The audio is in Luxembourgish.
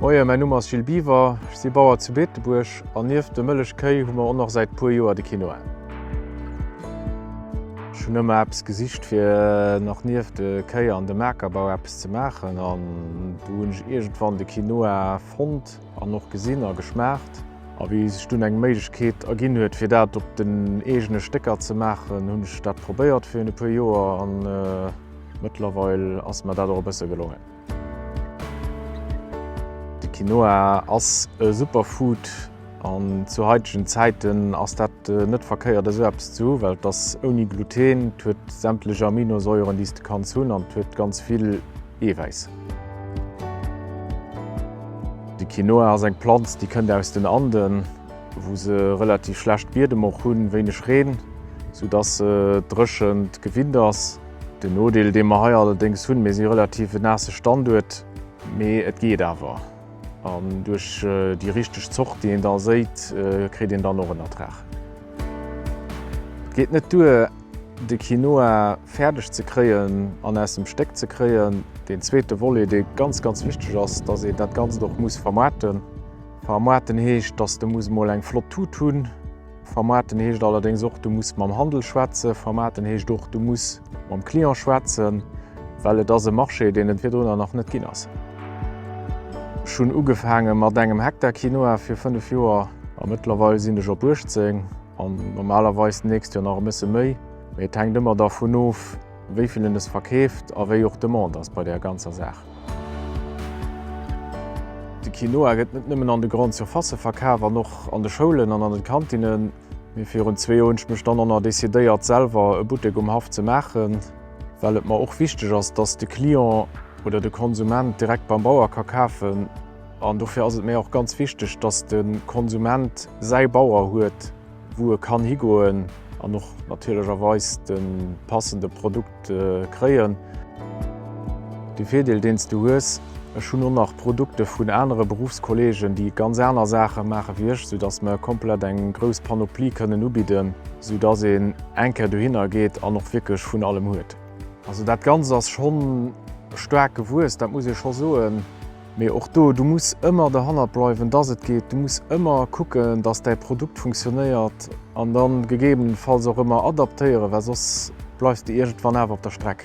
Moien, mäin Numm ass Gilles Biwer, ech si Bauer zu Beetebuerg an nieft de Mëllech Kéi hu mer och nach säit puer Joer de Kino an. Ech hunn ëmmer eppes gesicht fir nach nieft de Kéi an dem Akerbau eppes ze maachen an do hunn ech iergendwann de Quinoa fonnt. An och gesinn a geschmaacht. A wéi sech dunn eng Méiglechkeet erginn huet, fir dat op den eegene Stécker ze maachen, hunn ech dat probéiert virun e puer Joer an mëttlerweil ass mer dat och e bësse gelongen. De Quinoa ass e Superfood an zu haitegen Zäiten ass dat net verkéiert esou eppes ze hu well et ass ouni Gluten, et huet sämtlech Aminosäuren, déi s de kanns hunn an et huet ganz vill. Eewäiss. De Quinoa ass eng Planz déi kënnt aus den Anden, wou se relativ schlecht Biedem och hunn, wéineg Reen, sou dass se dréchent gewinnt ass. Den Nodeel dee mer hei allerdéngs hunn, mir si relativ e naasse Standuert, mee et geet awer, an duerch déi richteg Zort déi een da séit, kritt een dann och en Ertrag. Et geet net duer. de Quinoa fäerdeg ze kréien an aus dem Stéck ze kréien. Deen zweete Volet, dee ganz, ganz wichteg ass, dass een dat Ganzt och muss vermaarten. Vermaarten heescht, dass de muss emol eng flott Tut hunn. Vermaarten heescht allerdéngs och, du muss mam Handel schwätzen. Vermaarten heescht och, du muss mam Client schwätzen, well et ass e Marché, deen et virdrunner nach net ginn ass. Ech hunn ugefaange mat engem Hektar Quinoa fir fënnef Joer a mëttlerweil sinn ech op 18. An normalerweis d'nächst Joer nach e bësse méi. Mee et hänkt ëmmer dervun of, wéi vill een es verkeeft a wéi och d'Demande ass bei där ganzer Saach. De Quinoa gëtt net nëmmen an de Grandes Surfaces verkaf an och an de Schoulen an an den Kantinnen. Mee virun zwee Joer hunn ech mech dann och nach decidéiert, selwer e Buttek um Haff ze maachen, well et mer och wichteg ass, dass de Client oder de Konsument direkt beim Bauer ka kafen. An dofir ass et mir och ganz wichteg, dass de Konsument säi Bauer huet, wou e kann higoen an och natierlecherweis de passende Produkt kréien. De Virdeel, deen s du hues, Ech hunn och nach Produkte vun anere Beruffskollegen, déi ganz aner Saache maache wéi ech, soudass mer komplett eng grouss Panoplie kënnen ubidden, soudass een eng Kéier dohinner geet an och wierklech vun allem huet. Also dat Ganzt ass scho staark gewuess, dat muss ee scho soen. Mee och do, du muss ëmmer derhannert bleiwen, dass et geet. Du muss ëmmer kucken, dass däi Produkt funktionéiert an dann gegebenenfalls och ëmmer adaptéieren, well soss bleifs de iergendwann awer op der Streck.